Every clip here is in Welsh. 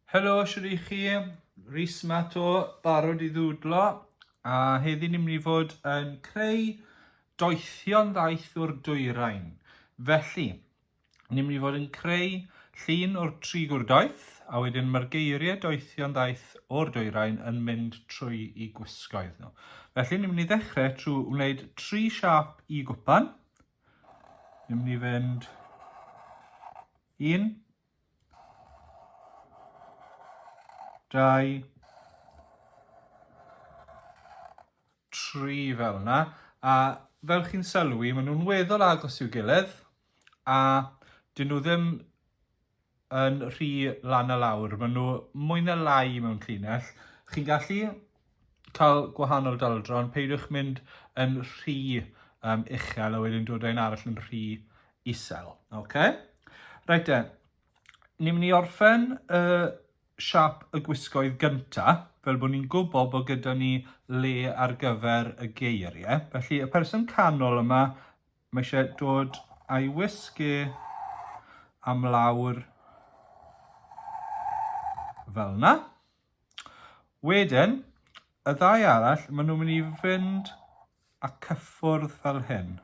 Helo, siwr i chi, Rhys Mato, barod i ddwdlo, a heddi ni'n mynd i fod yn creu doethion ddaeth o'r dwyrain. Felly, Ni'n mynd i fod yn creu llun o'r tri gwrdoeth, a wedyn mae'r geiriau doethion ddaeth o'r dwyrain yn mynd trwy i gwisgoedd nhw. Felly ni'n mynd i ddechrau trwy wneud tri siap i gwpan. Ni'n mynd i fynd un, dau, tri fel yna. A fel chi'n sylwi, maen nhw'n weddol agos i'w gilydd. A dyn nhw ddim yn rhy lan a lawr, maen nhw mwy na lai mewn llinell. Chi'n gallu cael gwahanol daldron, peidiwch mynd yn rhy um, uchel a wedyn dod ein arall yn rhy isel. Okay? Reit e, ni'n mynd i orffen y uh, siap y gwisgoedd gyntaf, fel bod ni'n gwybod bod gyda ni le ar gyfer y geiriau. Felly y person canol yma Mae eisiau dod a'i wisgi am lawr fel yna. Wedyn, y ddau arall, maen nhw'n mynd i fynd a cyffwrdd fel hyn.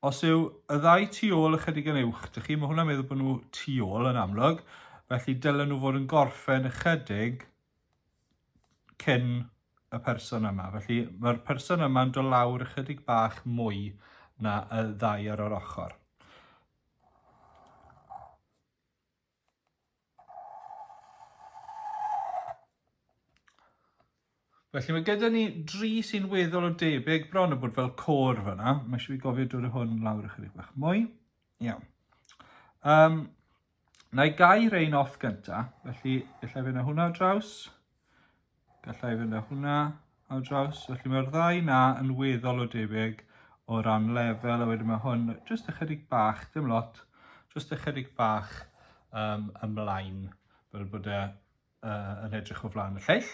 Os yw y ddau tu ôl ychydig yn uwch, dych chi, mae hwnna'n meddwl bod nhw tu ôl yn amlwg, felly dylen nhw fod yn gorffen ychydig cyn y person yma. Felly mae'r person yma'n do lawr ychydig bach mwy na y ddau ar yr ochr. Felly mae gyda ni dri sy'n weddol o debyg, bron o bod fel côr fyna. Mae eisiau fi gofio dod o hwn lawr ychydig bach mwy. Iawn. Um, Na i gau rhain off gynta, felly gallai fynd â hwnna draws, gallai fynd â hwnna ar draws, felly mae'r ddau na yn weddol o debyg o ran lefel, a wedyn mae hwn jyst ychydig bach, dim lot, jyst ychydig bach um, ymlaen, fel bod e uh, yn edrych o flaen y lleill.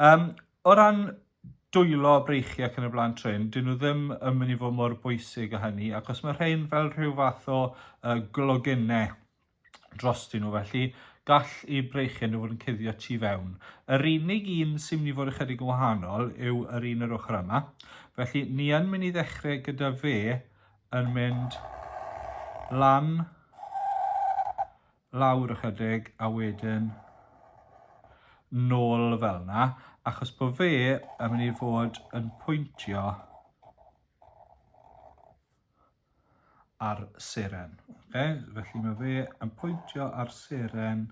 Um, o ran dwylo breichiau ac yn y blaen trin, dyn nhw ddim yn mynd i fod mor bwysig o hynny, ac os mae rhain fel rhyw fath o uh, glogennau dros dyn nhw, felly gall i breichiau nhw fod yn cuddio tu fewn. Yr unig un sy'n mynd i fod ychydig yn wahanol yw yr un yr ochr yma. Felly, ni yn mynd i ddechrau gyda fe yn mynd lan lawr ychydig a wedyn nôl fel yna, achos bod fe yn mynd i fod yn pwyntio ar seren. Okay? Felly mae fe yn pwyntio ar seren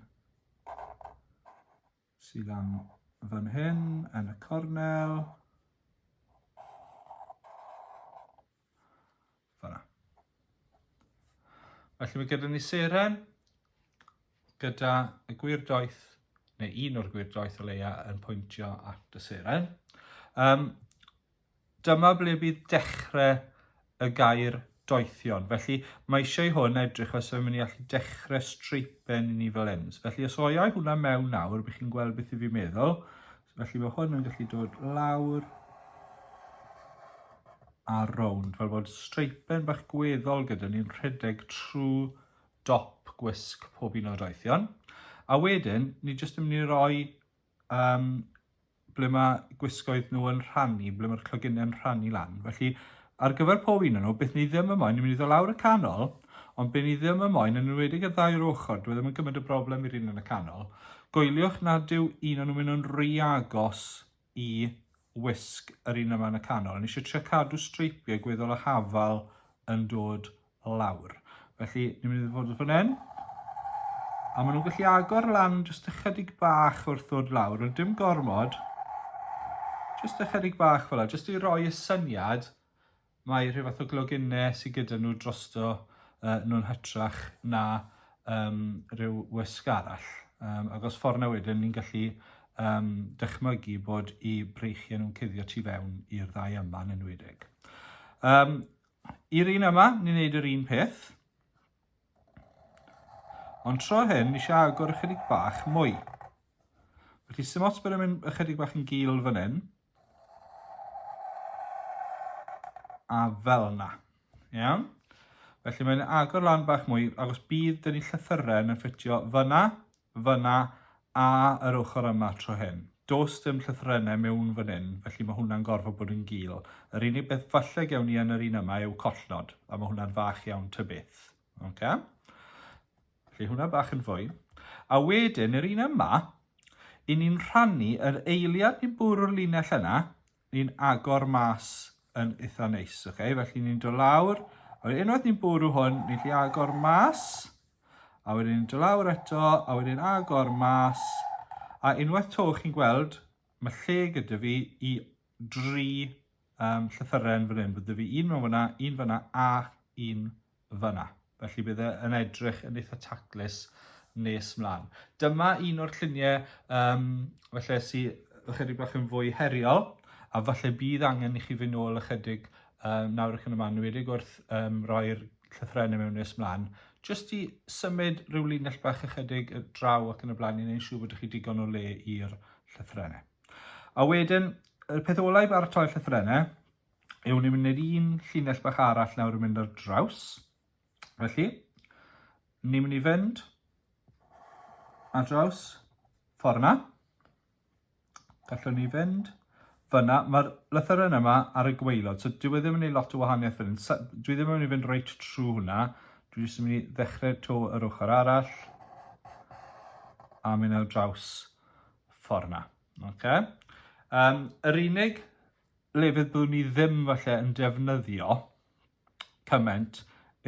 sydd lan fan hyn yn y cornel. Fyna. Felly mae gyda ni seren, gyda y gwir doeth, neu un o'r gwir doeth o leia yn pwyntio at y seren. Um, dyma ble bydd dechrau y gair doethion. Felly mae eisiau i hwn edrych os yw'n mynd i allu dechrau streipen i ni fel hyn. Felly os oiau hwnna mewn nawr, bych chi'n gweld beth i fi meddwl. Felly mae hwn yn gallu dod lawr a rownd, fel bod streipen bach gweddol gyda ni'n rhedeg trwy dop gwisg pob un o'r doethion. A wedyn, ni jyst yn mynd i roi um, ble mae gwisgoedd nhw yn rhannu, ble mae'r clogynnau'n rhannu lan. Felly ar gyfer pob un o nhw, beth ni ddim yn moyn, ni'n mynd i ddod lawr y canol, ond be ni ddim yn moyn, yn enwedig y ddau o'r ochr, dwi e ddim yn gymryd y broblem i'r un yn y canol, goeliwch nad yw un o nhw'n mynd yn rhy agos i wisg yr un yma yn y canol. Ni eisiau trio cadw streipiau gweddol y hafal yn dod lawr. Felly, ni'n mynd i ddod o fan hyn. A maen nhw'n gallu agor lan jyst ychydig bach wrth ddod lawr, ond dim gormod. Jyst ychydig bach fel yna, jyst i roi y syniad mae rhyw fath o gloginnau sydd gyda nhw drosto uh, nhw'n hytrach na um, rhyw wysg arall. Um, ac os ffordd na wedyn, ni'n gallu um, dychmygu bod i breichiau nhw'n cuddio tu fewn i'r ddau yma yn enwedig. Um, I'r un yma, ni'n gwneud yr un peth. Ond tro hyn, ni eisiau agor ychydig bach mwy. Felly sy'n ots bod yn mynd ychydig bach yn gil fan hyn. A fel yna. Iawn? Felly mae'n agor lan bach mwy, agos bydd dyn ni llythyren yn ffitio fyna, Fan'na, a yr ochr yma tro hyn. Does dim llythrennau mewn fan hyn, felly mae hwnna'n gorfod bod yn gul. Yr unig beth falle gewn ni yn yr un yma yw collnod, a mae hwnna'n fach iawn ta beth. Okay? Felly hwnna bach yn fwy. A wedyn, yr un yma, i ni'n rhannu yr eiliad ni'n bwrw'r linell yna, ni'n agor mas yn eitha neis, ok? Felly ni'n dod lawr, a wedyn unwaith ni'n bwrw hwn, ni'n gallu agor mas, a wedyn ni'n dod lawr eto, a wedyn agor mas, a unwaith to chi'n gweld, mae lle gyda fi i dri um, llythyren fan hyn, fydde fi un mewn fyna, un fyna, a un fan'na. Felly bydd e yn edrych yn eitha taclus nes mlaen. Dyma un o'r lluniau um, felly sydd ychydig bach yn fwy heriol, a falle bydd angen i chi fynd nôl ychydig um, nawr ac yn yma, nwedig wrth um, roi'r llythrenau mewn nes mlaen, jyst i symud rhyw linell bach ychydig y draw ac yn y blaen i wneud siŵr bod chi digon o le i'r llythrenau. A wedyn, y peth olau i baratoi'r llythrenau Ewn ni mynd i'r un llinell bach arall nawr yn mynd ar draws. Felly, ni'n mynd i fynd ar draws ffordd yna. Gallwn ni fynd fyna. Mae'r lythyren yma ar y gweilod, so dwi e ddim yn ei lot o wahaniaeth fan hyn. Dwi ddim yn mynd i fynd reit trwy hwnna. Dwi jyst yn mynd i ddechrau to yr ochr arall a mynd ar draws ffordd yna. Okay. Um, yr unig le fyddwn ni ddim falle yn defnyddio cymaint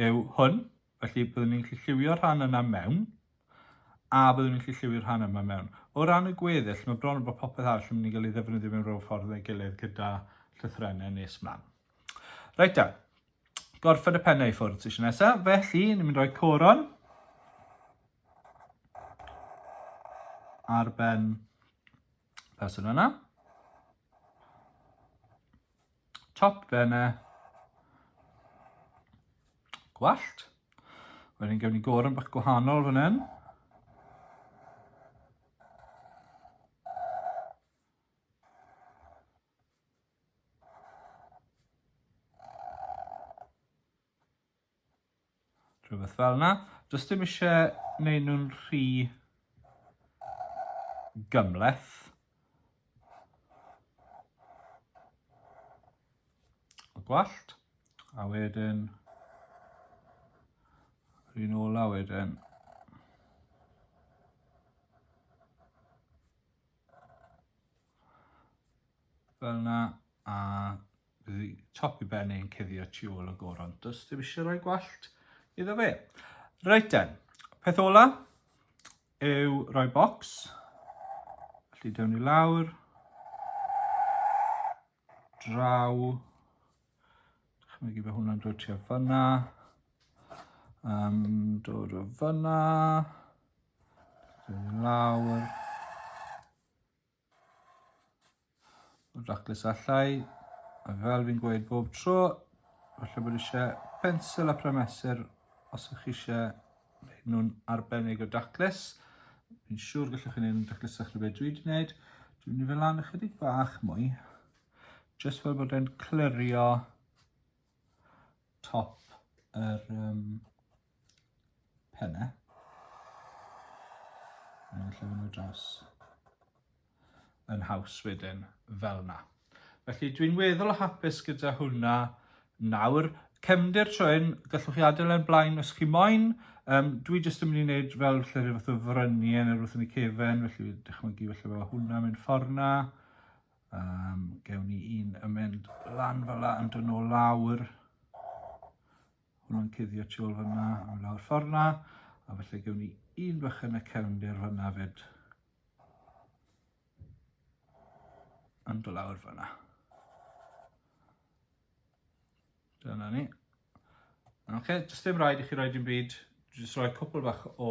yw hwn. Felly byddwn ni'n gallu lliwio rhan yna mewn a byddwn ni'n gallu lliwio rhan yma mewn. O ran y gweddill, mae bron yn bod popeth arall yn mynd i gael ei ddefnyddio mewn rhyw ffordd neu gilydd gyda llythrennau nes mlaen. Reit da, gorffen y pennau i ffwrdd sy'n nesaf, felly ni'n mynd rhoi coron ar ben person yna. Top benne. Gwallt. Wedyn gewn ni gorym bach gwahanol fan hyn. Rhywbeth fel yna. Does dim eisiau gwneud nhw'n rhy gymleth. O gwallt. A wedyn... Rhyn ôl a wedyn... Fel yna. A Bydd y top i ben yn cuddio tu ôl y goron. Does dim eisiau rhoi gwallt iddo fe. Reit den, peth ola yw rhoi bocs. Felly dewn ni lawr. Draw. Chymig i fe hwnna'n dod tua fyna. Um, dod o fyna. Dewn ni lawr. Raclus allai, a fel fi'n gweud bob tro, falle bod eisiau pensel a prymesur os ych chi eisiau gwneud nhw'n arbennig o daclus. Fi'n siŵr gallwch chi'n un daclusach na beth dwi wedi gwneud. Dwi'n mynd i fel lan ychydig bach mwy, jyst fel bod e'n clirio top yr um, penne. A ni'n llefyn nhw dros yn haws wedyn fel yna. Felly dwi'n weddol o hapus gyda hwnna nawr. Cefndir trwy'n gallwch chi adael e'n blaen os chi moyn. Um, dwi jyst yn mynd i wneud fel lle rhyw fath o frynu yn yr wrth yn y cefen, felly dychmygu felly fel hwnna mynd ffordd na. Um, gewn ni un yn mynd lan fel la yn dod nôl lawr. Hwnna'n cuddio tu ôl fanna am lawr ffordd na, a felly gewn ni un bach yn y cefndir fanna fyd. Yn do lawr fanna. Dyna ni. Oce, okay, jyst ddim rhaid i chi roi dim byd, jyst rhoi cwpl bach o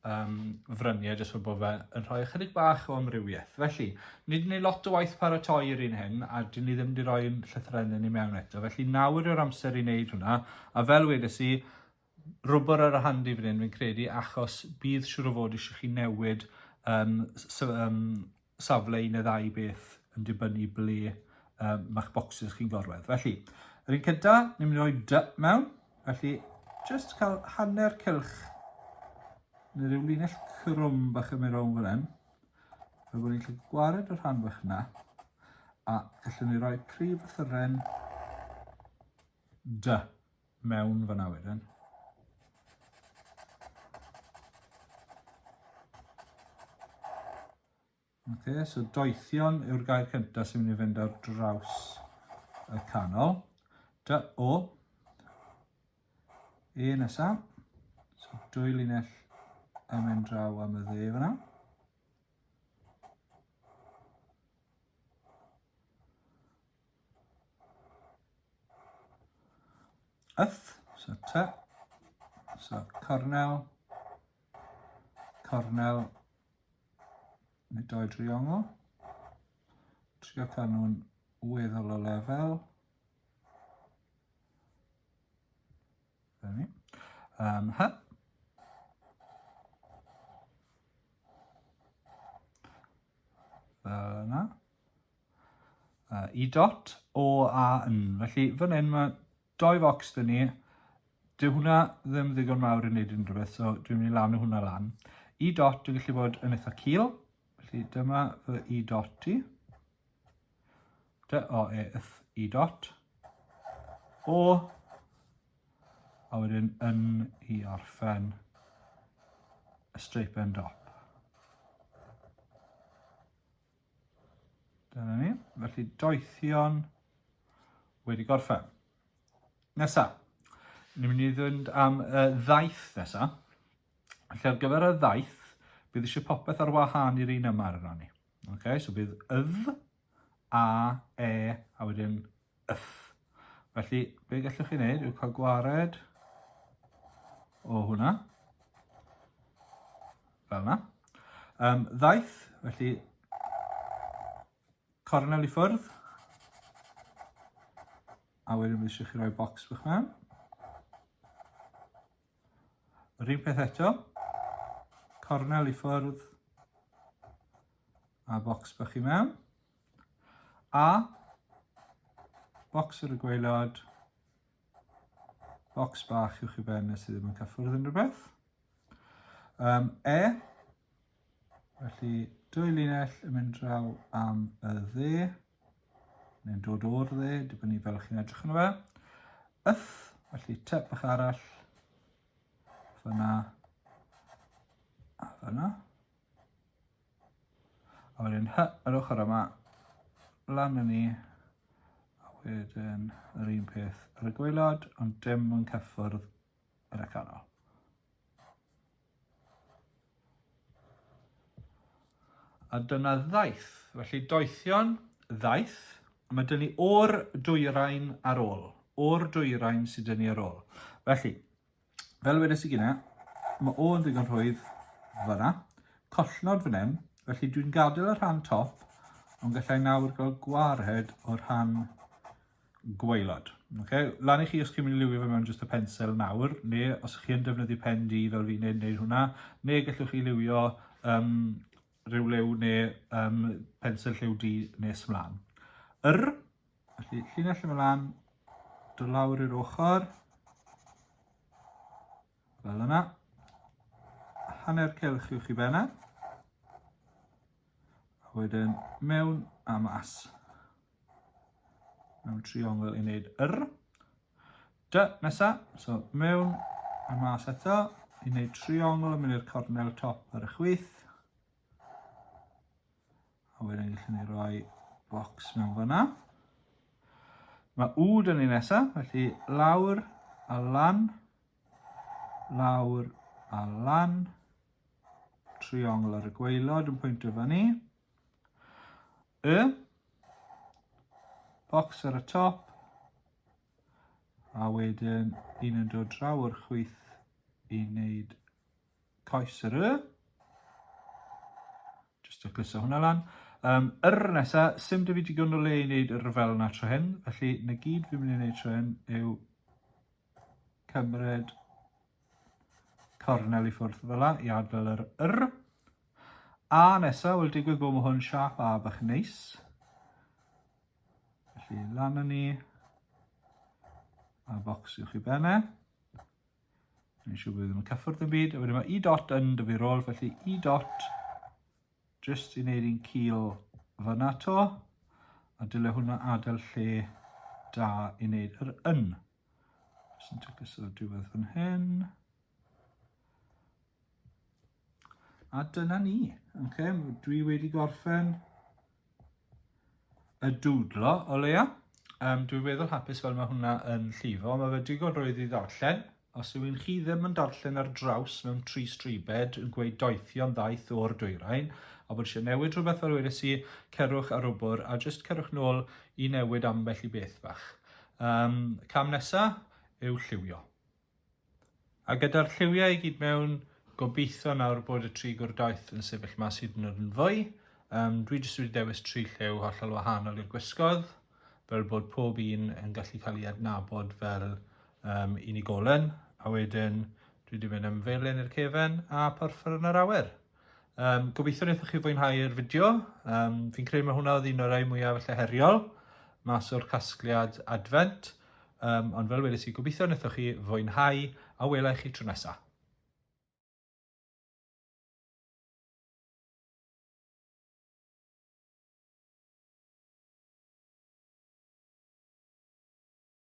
um, fryniau jyst fod bod fe yn rhoi ychydig bach o amrywiaeth. Felly, ni wedi gwneud lot o waith paratoi i'r un hyn a dyn ni ddim wedi rhoi llythrennau ni mewn eto. Felly nawr yw'r amser i wneud hwnna a fel wedes i, rwbr ar y handi fan hyn fi'n credu achos bydd siwr o fod eisiau chi newid um, so, um, safle un neu ddau beth yn dibynnu ble um, mae'ch bocsys chi'n gorwedd. Felly, yr un cynta, ni'n mynd i roi dy mewn. Felly, just cael hanner cylch neu ryw linell crwm bach yn mynd rownd fan hyn. Fel bod ni'n gallu gwared y rhan fach yna. A gallwn ni roi prif fythyren dy mewn fan'na wedyn. Ok, so doethion yw'r gair cyntaf sy'n mynd i fynd ar draws y canol. Dy o. E nesaf. So dwy linell yn mynd draw am y dde fan'na. Yth, so ty, so cornel, cornel, neu doi driongl. Trio cael nhw'n weddol o lefel. Dyna Um, hy. Fel yna. uh, i dot o a yn. Felly fan hyn mae doi fox dyn ni. Dyw hwnna ddim ddigon mawr i wneud unrhyw beth, so dwi'n mynd i lanu hwnna lan. I dot yn gallu bod yn eitha cil. Felly dyma fy i dot i. Dy o e yth i dot. O. A wedyn yn i orffen y straip end dop. Dyna ni. Felly doethion wedi gorffen. Nesa, ni'n mynd i ddod am y ddaeth nesa. Felly ar gyfer y ddaeth, bydd eisiau popeth ar wahân i'r un yma ar yna ni. Okay, so bydd ydd, a, e, a wedyn Yff. Felly, be gallwch chi wneud yw cael gwared o hwnna. Fel yna. Um, ddaeth, felly, cornel i ffwrdd. A wedyn fi eisiau chi roi bocs bych mewn. Yr un peth eto. Cornel i ffwrdd. A bocs bych chi mewn. A, bocs ar y gwaelod, bocs bach i'w chi ben nes i ddim yn cyffwrdd unrhyw beth. Um, e, felly dwy linell yn mynd draw am y dde, neu'n dod o'r dde, dibynnu fel chi'n edrych yn y fe. Yth, felly tep bach arall, fyna, a fyna. A wedyn hy yr ochr yma, lan yn ni, a wedyn yr un peth ar y gwaelod, ond dim yn cyffwrdd yr ecanol. A dyna ddaeth, felly doethion ddaeth, a mae dyn ni o'r dwyrain ar ôl, o'r dwyrain sydd dyn ni ar ôl. Felly, Fel wedes i gyna, mae o yn ddigon rhwydd fyna. Collnod fan hyn, felly dwi'n gadael y rhan top, ond gallai nawr gael gwared o'r rhan gwaelod. Okay? Lan i chi os chi'n mynd i liwio fe mewn jyst y pensel nawr, neu os ych chi'n defnyddio pen di fel fi'n neud, neud hwnna, neu gallwch chi liwio um, rhyw lew neu um, pensel lliw di nes mlaen. Yr Felly, llinell yma lan, do lawr i'r ochr, fel yna. Hanner celch i'w chi benna. A wedyn mewn a mas. Mewn triongl i wneud yr. Dy, nesa, so mewn a mas eto, i wneud triongl yn mynd i'r cornel top ar y chwith. A wedyn gallwn ni roi bocs mewn fanna. Mae wd yn ei nesaf, felly lawr a lan, lawr a lan, triongl ar y gweilod yn pwyntio fan ni. Y, bocs ar y top, a wedyn un yn dod draw o'r chwyth i wneud Coes yr y. Just to cluso hwnna lan. Um, yr nesa, sy'n dy fi digon o le i wneud yr fel yna tro hyn. Felly, na gyd fi'n mynd i wneud tro hyn yw cymryd cornel i ffwrdd fel yna i adfel yr yr. A nesa, wel digwydd bod mae hwn siap a bach neis. Felly, lan yn ni a bocs i'w chi benne. Mae'n siŵr bod ddim yn cyffwrdd yn byd. A wedyn mae E dot yn dy fi rôl, felly E dot, just i wneud i'n cil fyna to, a dyle hwnna adael lle da i wneud yr yn. Just yn tygys o'r diwedd fan hyn. A dyna ni. Okay, dwi wedi gorffen y dwdlo o leia. Um, dwi'n feddwl hapus fel mae hwnna yn llifo. Mae fe digon rwydd i ddarllen. Os yw un chi ddim yn darllen ar draws mewn tri stribed yn gweud doethio'n ddaeth o'r dwyrain, a bod eisiau newid rhywbeth fel wedes i, cerwch ar wbr a jyst cerwch nôl i newid ambell i beth bach. Um, cam nesa yw lliwio. A gyda'r lliwiau i gyd mewn, gobeithio nawr bod y tri gwrdoeth yn sefyll mas hyd yn oed yn fwy. Um, dwi jyst wedi dewis tri lliw hollol wahanol i'r gwisgoedd, fel bod pob un yn gallu cael ei adnabod fel um, unigolyn, a wedyn dwi wedi mynd am felyn i'r cefen a porffor yn yr awyr. Um, gobeithio wnaethoch chi fwynhau'r fideo. Um, fi'n credu mae hwnna oedd un o'r rhai mwyaf felly heriol mas o'r casgliad adfent. Um, ond fel wedi si, gobeithio wnaethoch chi fwynhau a welai chi tro nesaf.